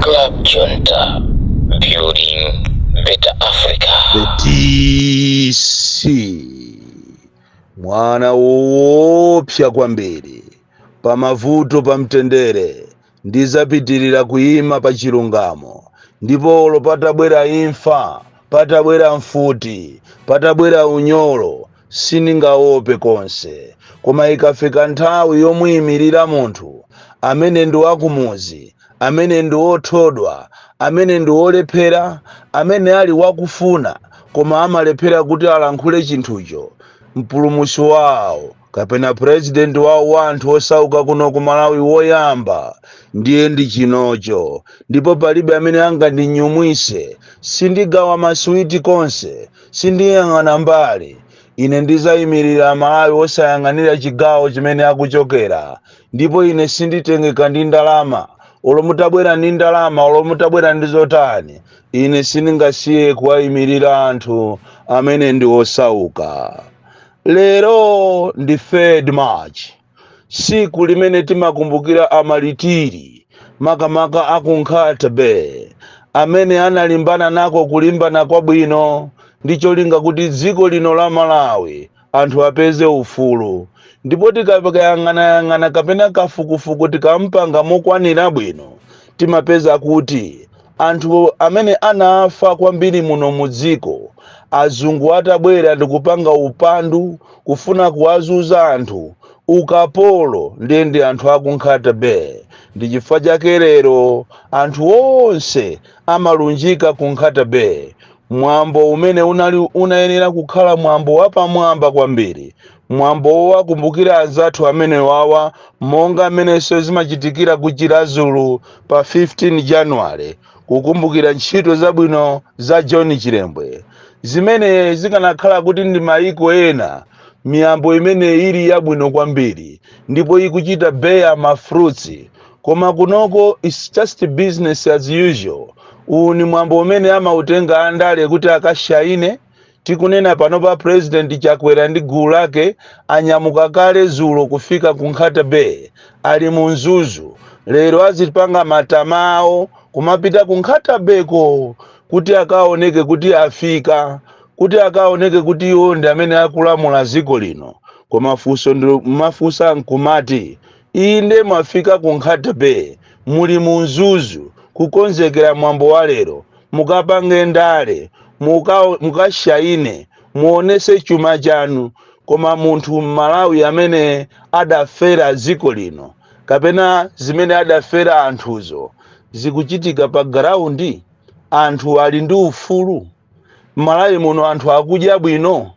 Club Junta, building better Africa. The DC, mwana woopsa kwambiri pamavuto pamtendere Ndidzapitirira kuyima pa chilungamo, ndipo olo patabwera imfa, patabwera mfuti, patabwera unyolo, sindingaope konse. Koma ikafika nthawi yomuyimirira munthu amene ndi wakumudzi, amene ndi othodwa, amene ndi olephera, amene ali wakufuna koma amalephera kuti alankhule chinthucho, Mpulumutsi wawo, kapena president wawo wa anthu osauka kuno ku malawi woyamba ndiye ndi chinocho ndipo palibe amene angandinyumwise sindigawa masiwiti konse sindiyang'ana mbali ine ndizayimirira amalawi osayang'anira chigawo chimene akuchokera ndipo ine sinditengeka ndi ndalama olo mutabwera ndi ndalama olo mutabwera ndi zotani ine sindingasiye kuwayimirira anthu amene ndi osauka Lero ndi 3rd March, siku limene timakumbukira amalitiri makamaka a ku Nkhata Bay amene analimbana nako kulimbana kwabwino ndi cholinga kuti dziko lino la Malawi anthu apeze ufulu ndipo tikayang'anayang'ana kapena kafukufuku tikampanga mokwanira bwino timapeza kuti Anthu amene anafa kwambiri muno mudziko azungu atabwera ndikupanga upandu kufuna kuwazuza anthu, ukapolo, ndiye ndi anthu aku Nkhata Bay. Ndi chifukwa chake lero anthu onse amalunjika ku Nkhata Bay. Mwambo umene unali unayenera kukhala mwambo wapamwamba kwambiri Mwambo wowakumbukira anzathu amenewawa monga mmenenso zimachitikira ku Chiradzulu pa 15 January kukumbukira ntchito zabwino za John Chilembwe zimene zikanakhala kuti ndi maiko ena miyambo imene ili yabwino kwambiri ndipo ikuchita bear ma fruits koma kunoko it's just business as usual. Uwu ni mwambo umene amautenga andale kuti akashaine. Tikunena panopa President Chakwera ndi gulu lake anyamuka kale zulo kufika ku Nkhata Bay ali mu Mzuzu lero azipanga matama awo kumapita ku Nkhata Bay ko kuti akaoneke kuti afika kuti akaoneke kuti iwo ndi amene akulamula dziko lino koma funso ndimafunsa nkumati inde mwafika ku Nkhata Bay muli mu Mzuzu kukonzekera mwambo wa lero mukapange ndale muka mukashaine muonese chuma chanu koma munthu mmalawi amene adafera dziko lino kapena zimene adafera anthuzo zikuchitika pa ground anthu ali ndi ufulu malawi muno anthu akudya bwino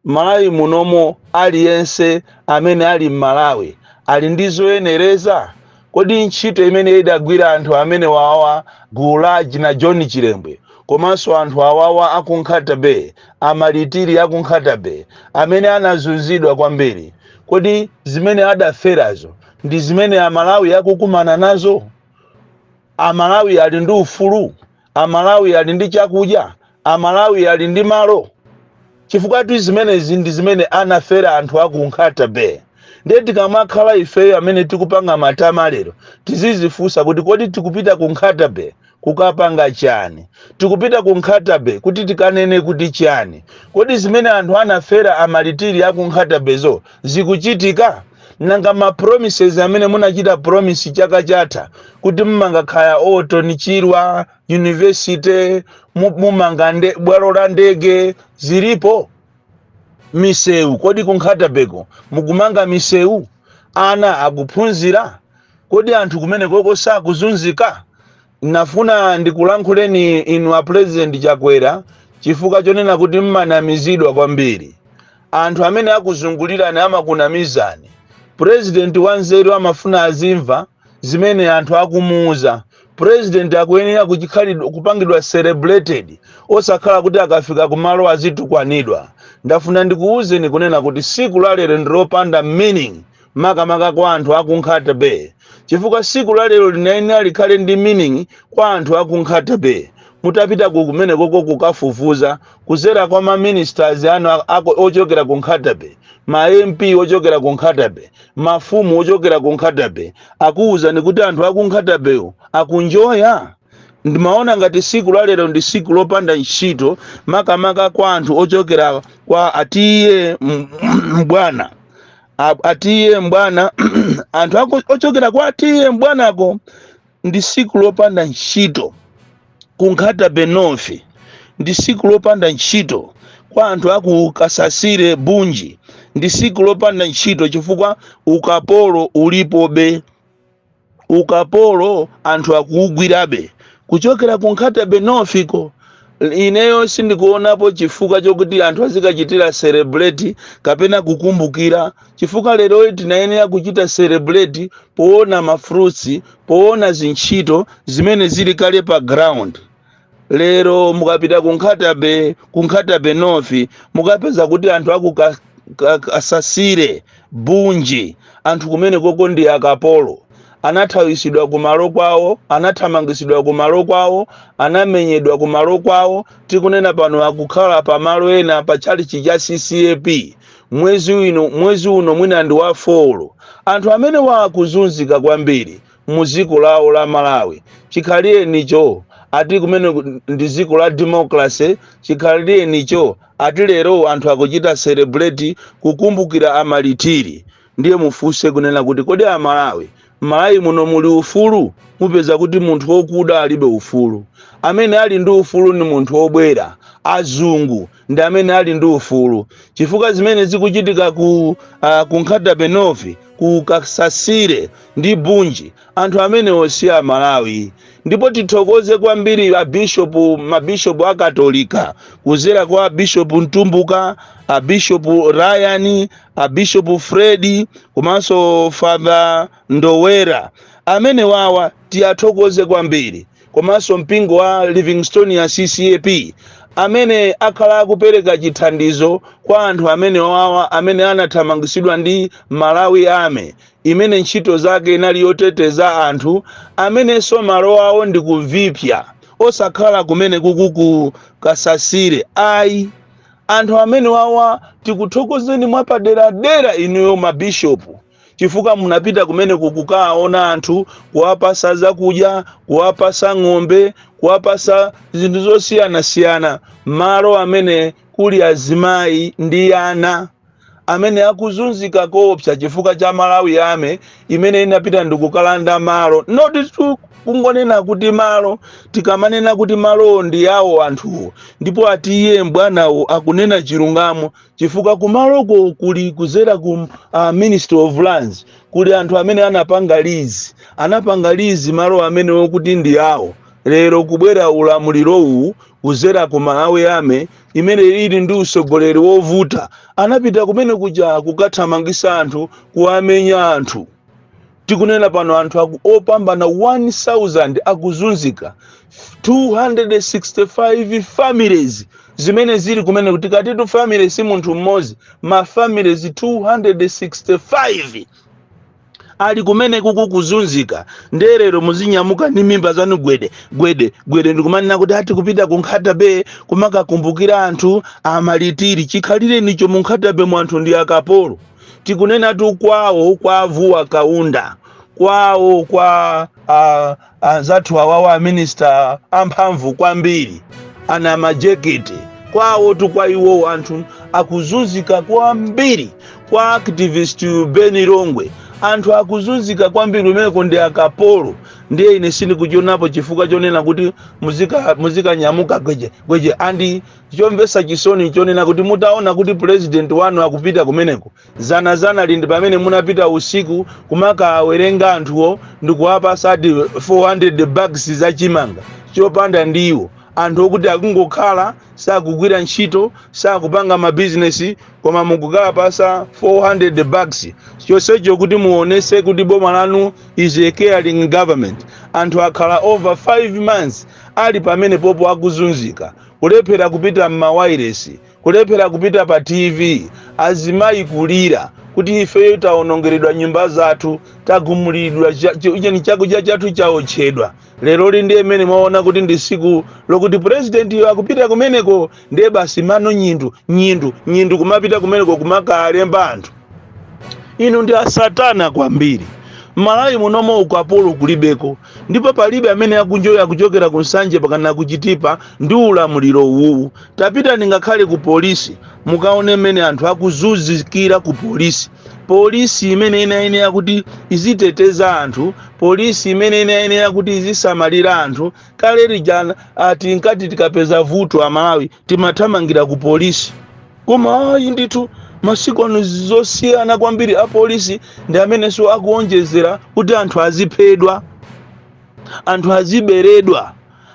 malawi munomo aliyense amene ali mmalawi ali ndi zoyenereza kodi ntchito imene idagwira anthu amene wawa gulu la anajohn chilembwe komanso anthu awawa akunkhata bay amalitiri akunkhata bay amene anazunzidwa kwambiri kodi zimene adaferazo ndi zimene amalawi akukumana nazo amalawi ali ndi ufulu Amalawi ali ndi chakudya? Amalawi ali ndi malo? Chifukwatu zimenezi ndi zimene anafera anthu a ku Nkhata Bay. Ndiye tikamakhala ifeyo amene tikupanga matama lero, tizizifunsa kuti kodi tikupita ku Nkhata Bay kukapanga chani? Tikupita ku Nkhata Bay kuti tikanene kuti chani? Kodi zimene anthu anafera a Malitiri a ku Nkhata Bay zo zikuchitika? Nanga ma promises amene munachita promise chaka chatha kuti mumanga kaya Orton Chirwa University, mu- mumanga nde, bwalo la ndege zilipo? Misewu kodi ku Nkhatabeko mukumanga misewu? Ana akuphunzira? Kodi anthu kumenekoko sakuzunzika? Nafuna ndikulankhuleni inu a Pulezidenti Chakwera chifukwa chonena kuti mmanamizidwa kwambiri. Anthu amene akuzungulirani amakunamizani. Pulezidenti wanzeru amafuna azimva zimene anthu akumuuza. Pulezidenti akuyenera kuchikhalidwe, kupangidwa celebrated osakhala kuti akafika kumalo azitukwanidwa. Ndafuna ndikuuzeni kunena kuti siku la lero ndi lopanda meaning makamaka kwa anthu aku nkhata bay chifukwa siku la lero linayenera likhale ndi meaning kwa anthu aku nkhata bay mutapita ku kumene koko kukafufuza kuzera kwa ma ministers anu a- ako ochokera ku nkhata bay ma mp ochokera ku nkhata bay mafumu ochokera ku nkhata bay akuwuzani kuti anthu aku nkhata bay akunjoya ndimaona ngati siku la lero ndi siku lopanda ntchito makamaka kwa anthu ochokera kwa a TA mbwana A- a TA mbwana anthu ako- ochokera kwa a TA mbwanako ndi siku lopanda ntchito kunkhata bay north ndi siku lopanda ntchito kwa anthu aku kasasire bunji ndi siku lopanda ntchito chifukwa ukapolo ulipobe ukapolo anthu akuugwirabe kuchokera ku nkhata bay north ko ineyo sindikuonapo chifukwa chokuti anthu azikachitira celebrate kapena kukumbukira chifukwa lero tinayenera kuchita celebrate poona mafruits poona zintchito zimene zili kale pa ground lero mukapita ku Nkhata Bay ku Nkhata Bay North mukapeza kuti anthu aku Ka- Ka- kasasire bunji anthu kumenekoko ndi akapolo anathawisidwa kumalo kwawo anathamangisidwa kumalo kwawo anamenyedwa kumalo kwawo tikunena pano akukhala pamalo ena pa tchalichi cha ccap mwezi uno mwezi uno mwina ndi wa folo anthu amenewa akuzunzika kwambiri mu ziko lawo la Malawi chikhalirenicho ati kumene ndi ziko la democracy chikhalirenicho ati lero anthu akuchita celebrate kukumbukira amalitiri ndiye mufunse kunena kuti kodi amalawi mmalawi muno muli ufulu mupeza kuti munthu wokuda alibe ufulu amene ali ndi ufulu ni munthu wobwera azungu ndi amene ali ndi ufulu chifukwa zimene zikuchitika ku uh, ku Nkhata Bay North ku kasasire ndi bunji anthu amenewo si amalawi ndipo tithokoze kwambiri abishopu mabishopu a katolika kuzera kwa bishopu mtumbuka abishopu ryan abishopu fredi komanso father ndowera amenewawa tiwathokoze kwambiri komanso mpingo wa livingstonia ccap amene akhala akupereka chithandizo kwa anthu amenewawa amene anathamangitsidwa ndi malawi army imene ntchito zake inali yoteteza anthu amenenso malo awo ndi ku Viphya osakhala kumenekuku ku kasasire ayi anthu amenewawa tikuthokozeni mwapaderadera inuyo mabishopu chifukwa munapita kumeneku kukaona anthu kuwapasa zakudya kuwapasa ng'ombe kuwapasa zinthu zosiyanasiyana malo amene kuli azimayi ndi ana amene akuzunzika koopsa chifukwa cha malawi army imene inapita ndikukalanda malo notitu kungonena kuti malo tikamanena kuti malowo ndi yawo anthuwo ndipo ati iye mbwanawo akunena chilungamo chifukwa kumaloko kuli kuzera ku uh, ministry of lands kuli anthu amene anapanga lizi anapanga lizi malo amenewo kuti ndi awo lero kubwera ulamulirowu kuzera ku malawi army imene ili ndi usogoleri wovuta anapita kumenekuja kukathamangisa anthu kuwamenya anthu tikunena pano anthu aku opambana 1000 akuzunzika 265 families zimene zili kumeneku tikatitu family si munthu mmodzi ma families 265 ali kumenekuku kuzunzika nde lero muzinyamuka ndi mimba zanu gwede gwede gwede ndikumanena kuti ati kupita ku Nkhata Bay kumakakumbukira anthu amalitiri chikhalirenicho mu Nkhata Bay mu anthu ndi akapolo tikunenatu kwawo kwa avuwa kaunda kwawo kwa ah, anzathu awawa aminista amphamvu kwambiri ana majekete kwawotu kwa iwowo anthu akuzunzika kwambiri kwa activist beni longwe anthu akuzunzika kwambiri kumeneko ndi akapolo ndiye ine sindikuchionapo chifukwa chonena kuti muzika- muzikanyamuka gweje gweje andi chomvetsa chisoni nchonena kuti mutaona kuti pulezidenti wanu akupita kumeneko dzanadzanali ndi pamene munapita usiku kumakaawerenga anthuwo ndikuwapasa ati 400 bags za chimanga chopanda ndiwo anthu okuti akungokhala sakugwira ntchito sakupanga mabizinesi koma mukukawapasa 400 bags chonsecho kuti muonese kuti boma lanu is a caring government anthu akhala over 5 months ali pamenepopo akuzunzika kulephera kupita m'mawailesi, kulephera kupita pa TV, azimayi kulira kuti ifeyo tawonongeredwa nyumba zathu, tagumuliridwa, cha- chi- cheni chakudya chathu chaotchedwa. Leroli ndiye mmene mwaona kuti ndi tsiku lokuti purezidentiyo akupita kumeneko, ndiye basi mano nyindu nyindu nyindu kumapita kumeneko kumakalemba anthu inu ndi a satana kwambiri m'malawi munomo ukapolo kulibeko ndipo palibe amene akunjoya kuchokera ku nsanje mpakana ku chitipa ndi ulamuliro uwu tapitani ngakhale ku polisi mukaone mmene anthu akuzunzikira ku polisi polisi imene inayenera kuti iziteteza anthu polisi imene inayenera kuti izisamalira anthu kale lijana ati nkati tikapeza vuto amalawi timathamangira ku polisi koma ayi ndithu masiku ano nzosiyana kwambiri apolisi ndi amenenso akuonjezera kuti anthu aziphedwa anthu aziberedwa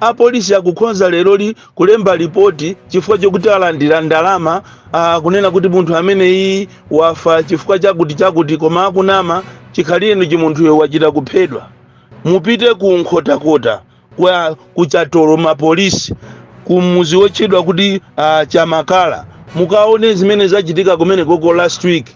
apolisi akukhonza leroli kulemba lipoti chifukwa chokuti alandira ndalama ah, kunena kuti munthu ameneyi wafa chifukwa chakuti chakuti koma akunama chikhalirenicho munthuyo wachita kuphedwa mupite ku nkhotakota Kwa ku Chatoloma police ku muzi wotchedwa kuti uh, chamakala mukaone zimene zachitika kumenekoko last week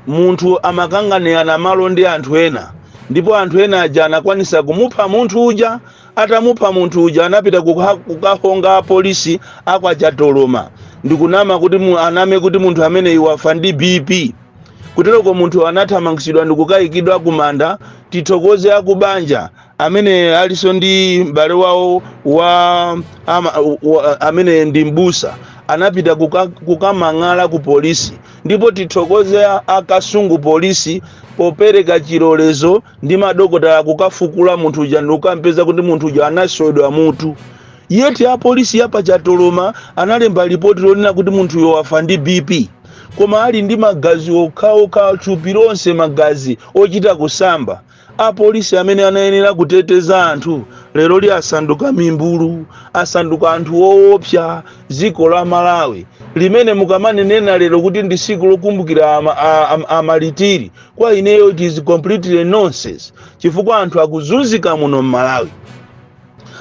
munthu amakanganirana malo ndi anthu ena ndipo anthu ena aja anakwanisa kumupha munthu uja atamupha munthu uja anapita kuka, kukahonga apolisi akwa chatoloma ndikunama kuti mu, aname kuti munthu ameneyu wafa ndi bp kutereko munthu anathamangitsidwa ndikukayikidwa kumanda tithokoze akubanja amene alinso ndi m'bale wawo wa, ama, wa amene ndi mbusa anapita kuka, kukamang'ala ku polisi ndipo tithokoze a- akasungu polisi popereka chilolezo ndi madokotala kukafukula munthu uja ndikukampeza kuti munthu uja anaswedwa mutu yet apolisi yapa chatoloma analemba lipoti lonena kuti munthuyo wafa ndi bp koma ali ndi magazi okhaokha thupi lonse magazi ochita kusamba Apolisi amene anayenera kuteteza anthu leroli asanduka mimbulu, asanduka anthu owopsa. Dziko la Malawi limene mukamanena lero kuti ndi tsiku lokumbukira a, a, a, a malitiri, kwa ineyo it is completely nonsense chifukwa anthu akuzunzika muno m'Malawi.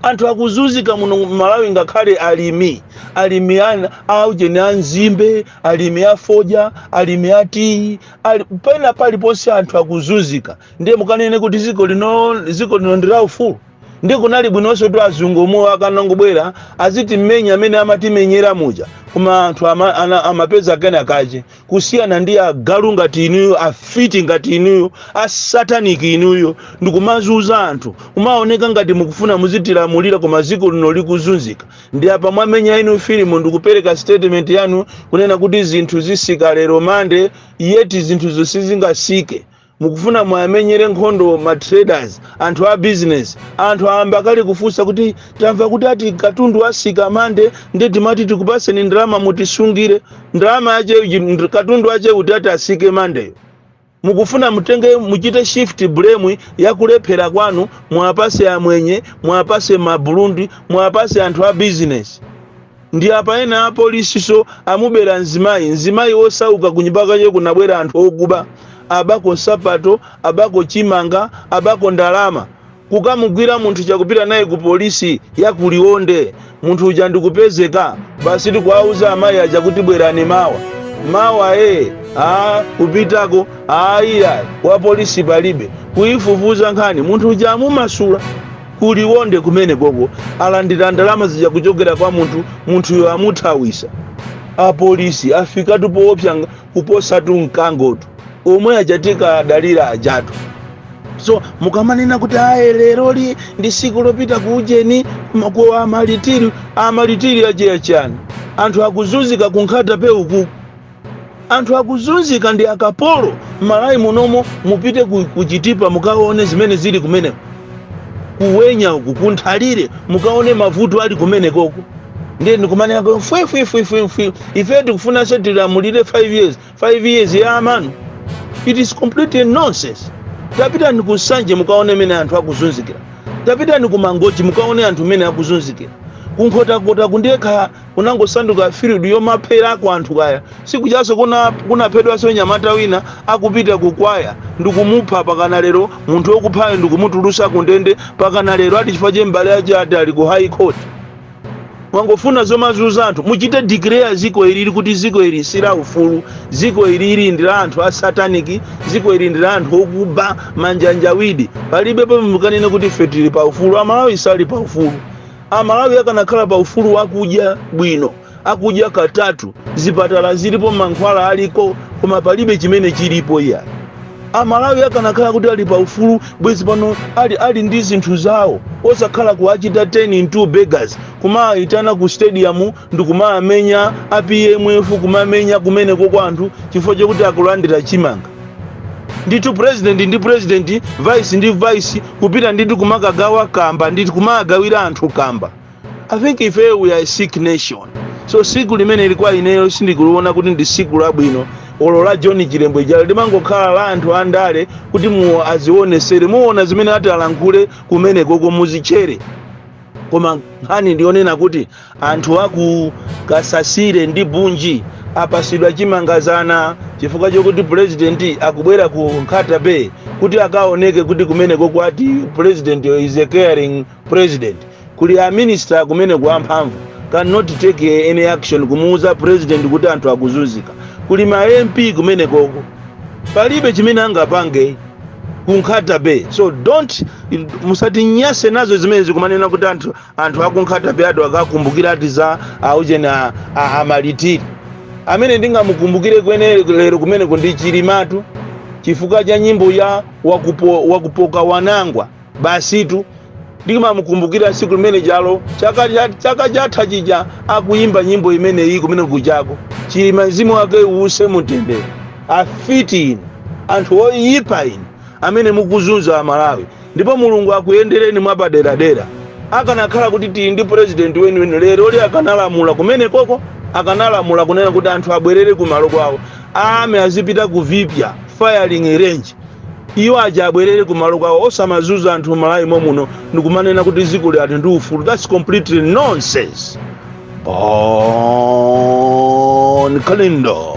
anthu akuzunzika muno mmalawi ngakhale alimi alimi ana aujeni a nzimbe alimi a fodya alimi a tiyi ali, pena paliponse anthu akuzunzika ndiye mukanene kuti ziko lino ziko lino ndi la ufulu ndiye kunali bwinonso kuti azungu omwe akanangobwera azitimmenya amene amatimenyera muja koma anthu ama, ana, amapeza kena kache kusiyana ndi agalu ngati inuyo afiti ngati inuyo asataniki inuyo ndikumazuza anthu kumaoneka ngati mukufuna muzitilamulira koma ziko lino likuzunzika ndi apa mwamenya inu filimu ndikupereka statement yanu kunena kuti zinthu zisika lero Monday yet zinthuzo sizingasike mukufuna muamenyere nkhondo ma traders anthu a business anthu ayamba kale kufunsa kuti tamva kuti ati katundu asika Monday nde timati tikupaseni ndalama mutisungire ndalama yache nd- katundu wache kuti ati asike Monday yo mukufuna mutenge muchite shift blame yakulephera kwanu muwapase amwenye muwapase maburundi muwapase anthu a business ndi apa ena apolisiso amubera mzimayi mzimayi wosauka kunyumba kwache kunabwera anthu okuba abako nsapato abako chimanga abako ndalama kukamugwira munthu uja kupita naye ku polisi ya kuliwonde munthu uja ndikupezeka basi ndikuwauza amayi aja kuti bwerani mawa mawa ee a kupitako ayiyayi wa polisi palibe kuyifufuza nkhani munthu uja amumasula Ku Liwonde kumene koko alandira ndalama zija kuchokera kwa munthu, munthuyo amuthawisa. A Polisi afikatu poopsa kuposatu mkangotu. Omwe aja tinkawadalira ajatu. So mukamanena kuti ayi leroli ndi siku lopita ku ujeni ma- ku amalitiri, amalitiri ache a chani? Anthu akuzunzika ku Nkhata Bay ukuku. anthu akuzunzika ndi akapolo m'malawi munomo mupite ku, ku chitipa mukaone zimene zili kumeneko ku wenya uku kunthalire mukaone mavuto ali kumenekoko ndiye ndikumanena kuti fwefwefwefwefwe ife tikufunanso tilamulire 5 years 5 years ya amanu it is completely nonsense tapitani ku nsanje mukaone mene anthu akuzunzikira tapitani ku mangochi mukaone anthu mene akuzunzikira kunkhotakota kundekha kunangosanduka field yomapherako anthu kaya siku jaso kuna kunaphedwanso nyamata wina akupita kukwaya ndikumupha pakana lero munthu okuphayo ndikumutulusa kundende pakana lero ati chifukwa che mbale ache ati ali ku high court mwangofuna zomazuza anthu muchite declare ziko ilili kuti ziko ili si la ufulu ziko ilili ndi la anthu a sataniki ziko ili ndi la anthu okuba manjanjawidi palibe pomwe mukanene kuti ife tili pa ufulu amalawi sali pa ufulu Amalawi akanakhala pa ufulu wakudya bwino akudya katatu, zipatala zilipo, mankhwala aliko koma palibe chimene chilipo iyayi. Amalawi akanakhala kuti ali pa ufulu bwezi pano ali, ali ndi zinthu zawo osakhala kuwachita turn into beggars kumawayitana ku stadium ndikumawamenya a pmf kumamenya kumeneko kwa anthu chifukwa chokuti akulandira chimanga. ndithu president ndi president vice ndi vice kupita ndithu kumakagawa kamba ndithu kumagawira anthu kamba i think ifeyo we are a sick nation so siku limeneli kwa ineyo sindikuliona kuti ndi siku labwino olo la john chilembwe jalo limangokhala la anthu andale kuti iwo azionesere muona zimene ati alankhule kumenekoko muzitchere koma nkhani ndiyonena kuti Anthu aku Kasasile ndi Bunji apasidwa chimanga zana chifukwa chokuti pulezidenti akubwera ku Nkhata Bay kuti akaoneke kuti kumenekoko ati president is a caring president. Kuli a minister kumeneko amphamvu cannot take any action kumuuza president kuti anthu akuzunzika. Kuli ma MP kumenekoko palibe chimene angapange ku Nkhata Bay. So don't musatinyase nazo zimenezi kumanena kuti anthu anthu aku nkhata bay ati akakumbukira ati za aujeni a- a- amalitiri amene ndingamukumbukireko ine lero kumeneko ndi chilimatu chifukwa cha nyimbo ya wakupo, wakupoka wanangwa basitu ndimamukumbukira siku limene jalo chaka cha- chaka chatha chija akuyimba nyimbo imeneyi kumene kujako chilima mzimu wake uuse mumtendere afiti inu anthu oyipa inu amene mukuzunza amalawi ndipo mulungu akuyendereni mwapaderadera akanakhala kuti tili ndi president weniweni leroli akanalamula kumenekoko akanalamula kunena kuti anthu abwerere kumalo kwawo a army azipita ku vipya firing range iwo aja abwerere kumalo kwawo osamazunza anthu malawi momuno ndikumanena kuti dziko lili ati ndi ufulu thats completely nonsense bon kalindo